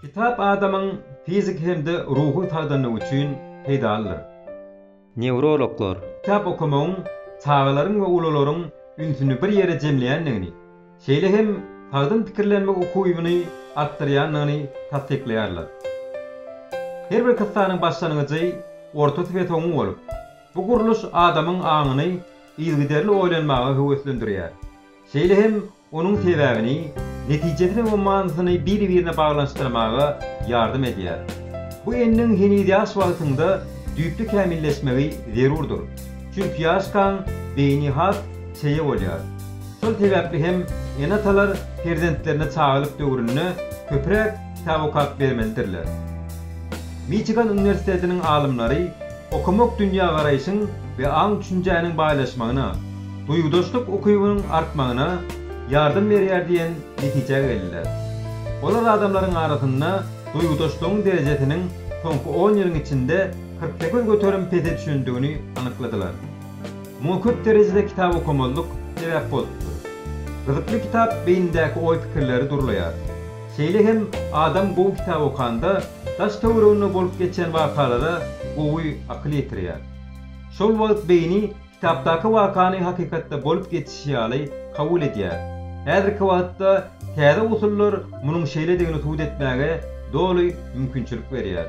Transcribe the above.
Kitap adamyň fiziki hem-de ruhy sagdynlygy üçin peýdalydyr. Newrologlar. Kitap okamagyň çagalaryň we ulularyň ünsüni bir ýere jemleýändigini, şeýle hem sagdyn pikirlenmek ukybyny artdyrýandygyny tassyklaýarlar. Her bir kyssanyň başlangyjy, ortasy we soňy bolup, bu gurluş adamyň aňyny yzygiderli oýlanmaga höweslendirýär. Şeýle hem Onuň sebäbini, netijesini we manysyny biri-birine baglanyşdyrmaga ýardam edýär. Bu endiň heniz ýaş wagtyňda düýpli kämilleşmegi zerurdyr. Çünki ýaşkaň beýni has çeýe bolýar. Şol sebäpli hem ene-atalar perzentlerine çagalyk döwründe köpräk kitap okap bermelidirler. Miçigan uniwersitetiniň alymlary Okamak dünýägaraýşyň we aň-düşünjäniň baýlaşmagyna, duýgudaşlyk ukybynyň artmagyna ýardam berýär diýen netijä geldiler. Olar adamlaryň arasynda duýgudaşlygyň derejesiniň soňky on ýylyň içinde kyrk sekiz göterim pese düşendigini anykladylar. Muňa köp derejede kitap okamazlyk sebäp bolupdyr. Gyzykly kitap beýnindäki oý-pikirleri durlaýar. Şeýle hem adam gowy kitap okanda daş-töwereginde bolup geçen wakalara gowy akyl ýetirýär. Şol wagt beýni kitapdaky wakany hakykatda bolup geçişi ýaly kabul edýär. Häzirki wagtda täze usullar munuň şeýledigini subut etmäge doly mümkinçilik berýär.